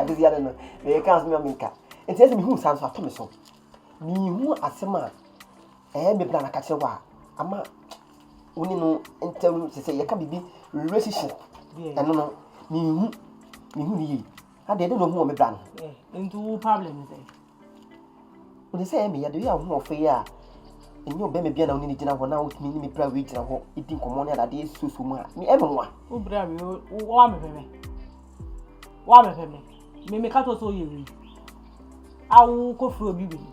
adesia no no meyɛ kan so mema me nka nti ɛsɛ mehu saa nso ato me so mehu asɛm a ɛyɛ me bra na ka kyerɛ wɔ a ama wo ne no ntam no sɛ sɛ yɛka biribi relationship ɛno no mehu mehu ne yie adeɛ ɛde na ɔhu wɔ me bra no eh, nti wo problem sɛ Ɔnim sɛ ɛyɛ me ya de, woyɛ ahoɔfɛ yi a, ɛnyɛ ɔbɛma bi a na wo ne no gyina hɔ na wotumi ne me bra wei gyina hɔ di nkɔmmɔ ne adadeɛ susu mu a, me ɛmɛ nwa. Wo bra wei, wo amepɛ me. Wo amepɛ me. Me me ka to so yɛ wei. A wo kɔ firi obi wei.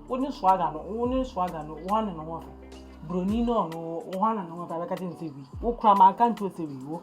Wo ne swaga no, wo ne swaga no, wo ne no ho fɛ. Broni no no, wo ne no ho fɛ, abɛka te ne sɛ wei. Wo kura ma nka nto sɛ wei wo.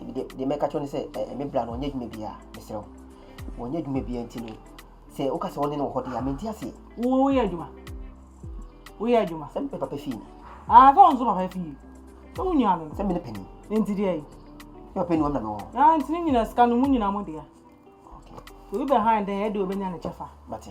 nti deɛ deɛ mɛka kyerɛ no sɛ ɛɛ me bra no ɔnyɛ adwuma biara mesrɛ wo wɔnyɛ adwuma biara nti no sɛ woka sɛ wɔne no wɔ hɔ deɛ a mente aseɛ woyɛ adwuma woyɛ adwuma sɛ mepɛ papa fie ni aa sɛ ɔnso papa fie sɛ wo nua no no sɛ mene pani nti deɛ yi ne papa nuam na mewɔ hɔ aa nti ne nyina sika no mu nyina mo dea obi bɛ han dɛn ɛde obɛnya ne kyɛfa mate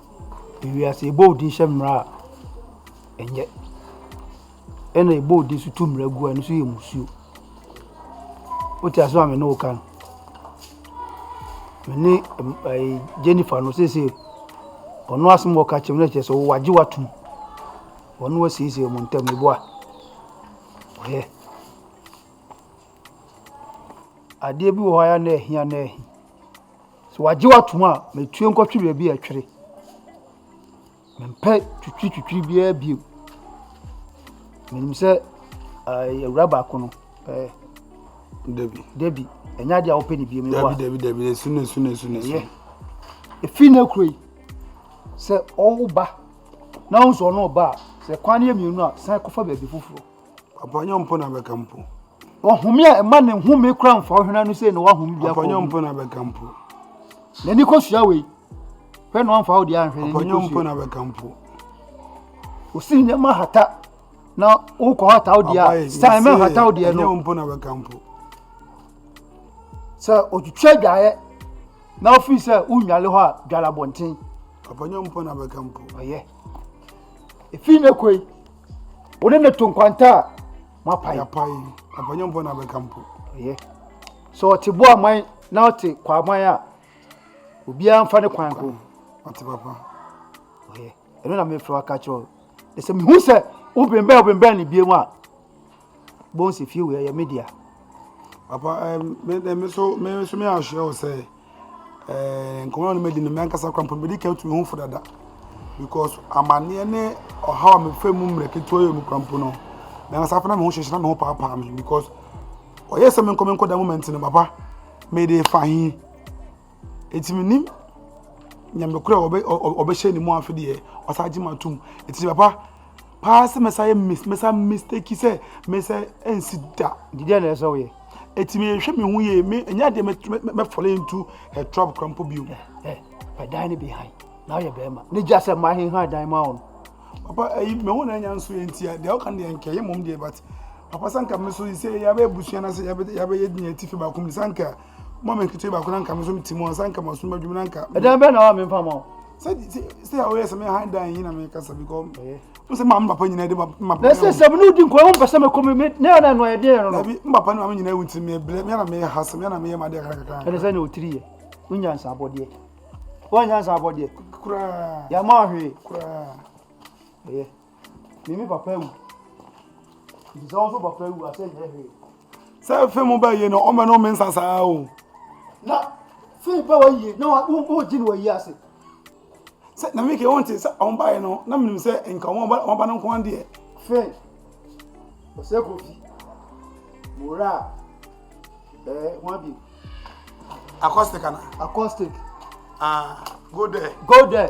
Ewiase, ebɔ wo din hyɛ mmara a, ɛnyɛ. Ɛna ebɔ wo din so tu mmara gu a, ɛno nso yɛ mmusuo. Wote asɛm a me ne wo ka no? Me ne ɛɛ Jennifer no seesei ɔno asɛm a ɔka kyerɛ me na kyerɛ sɛ ɔwɔ agye watum. Ɔno wasiesie wɔn ntam eboa. Ɔyɛ. Adeɛ bi wɔ hɔ a na ɛhia na ɛhi. Sɛ wɔagye wo atom a, ma etue nkɔtwe baabi a ɛtwere. Mempɛ twitwiritwitwiri biara bio. Menim sɛ ɛɛ awura baako no ɛɛ. Dabi. Dabi, ɛnyɛ adeɛ a wopɛ ne biom. Dabi, dabi, dabi, esu na esu na esu na esu. Efi na ekuro yi, sɛ ɔwo ba na ɔnso ɔno ɔba a, sɛ kwan no yɛ mmienu a, san kɔfa baabi foforɔ. Papa nyɛ ɔmpo na bɛka mpo. Ɔhome a ɛma ne home kora mfa ɔhwena no sei na wahome bi akɔ. Papa nyɛ ɔmpo na bɛka mpo. N'ani kosua wei. Hwɛ na wamfa wo deɛ anhwɛ n'ani kosua. Papa nyɛ ɔmpo na bɛka mpo. Osi nneɛma hata na wokɔ hata wo deɛ a san mɛ hata wo deɛ no. Nyɛ ɔmpo na bɛka mpo. Sɛ otwitwa adwaeɛ na ofiri sɛ wonwale hɔ a dwale abɔnten. Papa nyɛ ɔmpo na bɛka mpo. Ɔyɛ. Efi ne koi. wo ne no to nkwanta a moapae apae apanyɔmpɔ na bɛka mpo ɛyɛ sɛ ɔte bo aman na ɔte kwaman a obiara mfa ne kwan ko ɔte papa ɛyɛ ɛno na mefrɛ waka kyerɛ wo ɛsɛ mehu sɛ wobembɛn wobembɛn ne biam a Bones fie wei ɛyɛ me dea. Papa ɛɛ me de me so me so me ahyɛ wo sɛ ɛɛ nkɔmɔ no mɛdi no mɛnkasa kora mpɔ mɛdi kan tu me ho fo dada because amaneɛ ne ɔhaw a mefɛ mu mmerɛ ketewa yɛ mu kora mpo no mɛnkasa fana me ho hyehyɛ na me ho paapaa me because ɔyɛ sɛ menkɔ menkɔ da moment no papa mede fa he Enti mennim Nyame korɔ a ɔbɛhyɛ ne mu afe deɛ ɔsan gye m'atom. Enti papa paa sɛ mɛsa yɛ mis mɛsa mistake sɛ mɛsa ɛnsi da. Nti deɛ na ɛsɛ woyɛ? Enti mehwɛ me ho yie me ɛnyɛ adeɛ mɛ fall into her trap kora mpo bio. Ɛ ɛ dan ne behind na woyɛ bɛrima ne gya sɛ ma hehan dan ma wo no. Papa ɛyi me ho na ɛnya nso yɛ nti a deɛ ɔka deɛ nkɛ yɛ mom deɛ but papa sanka me so yi sɛ yɛabɛ abusua na sɛ yɛabɛ yɛabɛ yɛ deɛ atifi baako mu sanka. Mo me nkete ba kuna nka me so me timo ansa nka maso madwuma na nka. Ɛdan bɛ na wa me mpa ma o. Sɛ sɛ ya oyɛ sɛ me han dan yi na me kasa bi kɔ. Mo sɛ ma me papa nyina de ma ma. Na sɛ sɛ no di nkɔ ho pɛsɛ me kɔ me me na na no ayɛ den no. Na bi me papa na me nyina wuti me ble me na me ha sɛ me na me yɛ ma de akara kakra. Ɛne sɛ ne otiri yɛ. Wonya nsa abɔdeɛ. Wonya nsa abɔdeɛ. Kura. Ya ma hwe. Kura. Ɛyɛ. Me me papa awu. Nti sɛ wo nso papa awu a sɛ nyɛ hwee. Sɛ fim bɛ yie no ɔmɛ no ɔmɛ nsa saa o. Na fim bɛ wɔ yie na wɔn gyi no wɔ yie ase. Sɛ na mi kɛ wɔn ti sɛ wɔn ba yɛ no na mi nim sɛ nka wɔn ba wɔn ba no nko adeɛ. Fim ɔsɛ kofi mura ɛɛ wɔn abi. Acoustic ana. Acoustic. Ah go there. Go there.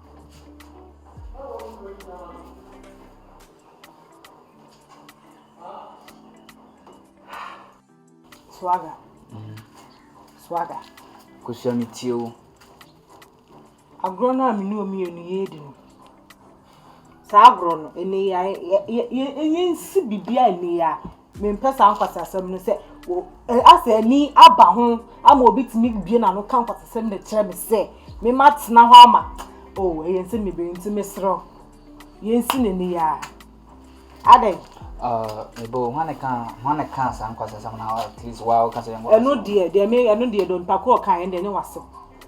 Swagger. Mm. Swagger. Kosua me tie wo. Agorɔ no a me ne omi yɛ no yɛ di no. Saa agorɔ no ɛnɛ yɛ yɛ yɛ yɛ nsi bibi a ɛnɛ yɛ a Mempɛ saa nkwaseasɛm no sɛ asɛ ani aba ho ama obi tumi bue n'ano ka nkwaseasɛm de kyerɛ me sɛ me ma tena hɔ ama oh ɛyɛ nsɛm bebree nti mesrɛ yɛnsi n'ani yɛ a adɛn mebo hwan ne ka hwan ne ka saa nkwaseasɛm na at least wa woka sɛ yɛnkɔ ɛno deɛ deɛ me ɛno deɛ dɔn pakoro ɔka yɛn deɛ ne wasɛm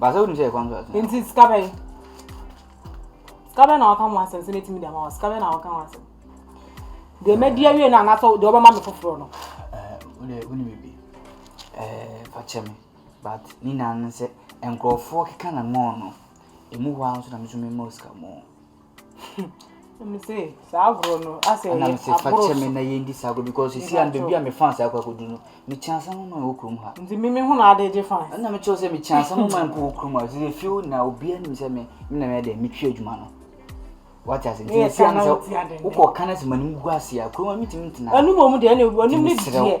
Baasa wonim sɛ ɛkwan so asɛm. Nti sika bɛn? Sika bɛn na wɔka ho asɛm sɛ mɛtumi de ama wɔ sika bɛn na wɔka ho asɛm? Deɛ mɛdi awie no anaasɛ deɛ wɔbɛma me foforɔ no? Wode wone biribi. Fakyɛ me but ne nyinaa no sɛ nkurɔfoɔ keka na mɔɔ no ɛmu hɔ ara nso na me nso memmɔ sika mɔɔ. Ɛna mese fa kyɛ me na yɛndi saa agorɔ because ɛsi ano baabi a me fans akɔ akɔdu no mekyɛ asɛm ma wɔ kurom ha nti meme ho na ade gye fans ɛna mekyerɛ sɛ mekyɛ asɛm ma mpo wɔ kurom ha sɛ ɛfie wo nyinaa obiara nim sɛ me na meyɛ dɛ metwe adwuma no wate ase nti ɛsi ano sɛ wokɔ ka no sɛ m'anim gu ase a kurom a metumi ntena ɛno mmom deɛ ɛne w'anim ne deɛ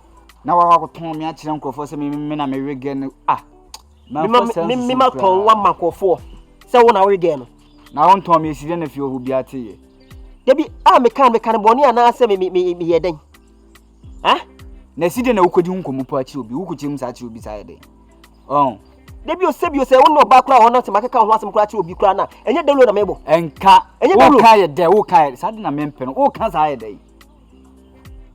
na wakɔ akɔtɔn me akyerɛ nkurɔfoɔ sɛ me na mewegɛ no a mema tɔn wa ma nkurɔfoɔ sɛ wo na wegɛ no na wontɔn me asi dɛ na fie ɔho biara teyɛ dabi a meka meka no bɔne anaasɛ meyɛ dɛn na ɛsi dɛ na wokɔdi ho nkɔmmɔ po akyerɛ obi wokɔkyerɛ mu saa akyerɛ obi saa yɛ dɛn ɔn dabi o sɛbi o sɛ wo ne ɔbaa koraa ɔno te makeka ho asɛm koraa kyerɛ obi koraa no a ɛnyɛ dawuro na mebɔ ɛnka woka yɛ dɛ woka yɛ saa de na mempɛ no woka saa yɛ dɛn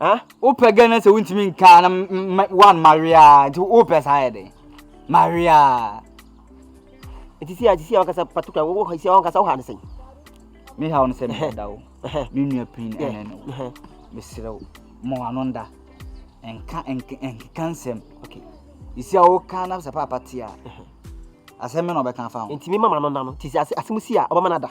Eh? Wopɛ gɛ na sɛ wontumi nkaa na one maria nti wopɛ saa yɛ den maria ɛti si a ti si a wakasa patukura wɔ si a wakasa wɔ ha ne sɛn me ha wo no sɛ meda wo me nua pin ɛnɛ ne wo mesrɛ wo ma wano nda nka nkeka nsɛm okay ɛsi a woka na sɛ paapa te a asɛm me na ɔbɛka fa ho nti mema ma no nda no nti sɛ asɛm si a ɔbɛma no ada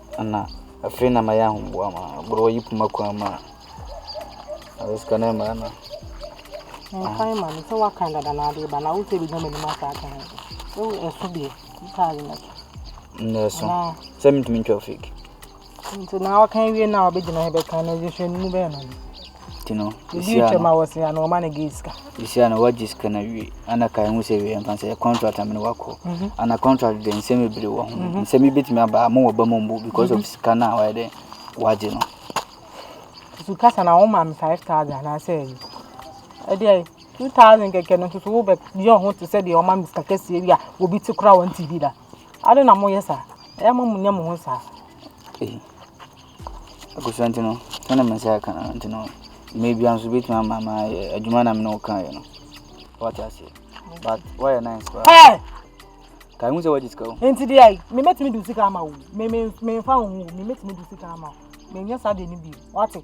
Ana afei na mayɛ ahoboa ma boro wayi poma kwan mu a ɔde sika no mmaa no. Nkan ma no sɛ wakan dada na ade ba na wo sɛ bi dama nim asa aka ho. Wo ɛso bi ka yi na. Na ɛso. Sɛ mentumi ntwa fake. Nti na wakan wie na ɔbɛgyina hɛ bɛka na yɛhwɛ no mu bɛyɛ no. Nti no sesia no sesia no wagye sika no awie ana ka ɛho sɛ wei mfa sɛ contract amene wakɔ mhm. ana contract de nsɛm bebree wɔ ho mhm. nsɛm yi bɛtumi aba mo wɔ ba mu mbu because of mhm. sika no a wayɛ dɛ wagye no so kasa na wɔn maame five thousand anaasɛ ɛyi ɛdeɛ two thousand kɛkɛ no nso so wobɛ yɛ ɔho te sɛ deɛ wɔn maame sika kɛseɛ bi a obi te kora wɔn ti bi da ade na mo yɛ saa ɛyɛ mo mo nyɛ mo ho saa. Abusua nti no, sɛdeɛ me nsa ka no nti no, mmerɛ biara nso bɛtumi ama ma ayɛ adwuma na mene wo kaeɛ no wate aseɛ but woayɛ nice paa ka hu sɛ wagye sika o nti deɛ ai memɛtumi de sika ama wo memfa wo ho memɛtumi de sika ama wo menyɛ saa deɛ no bi wate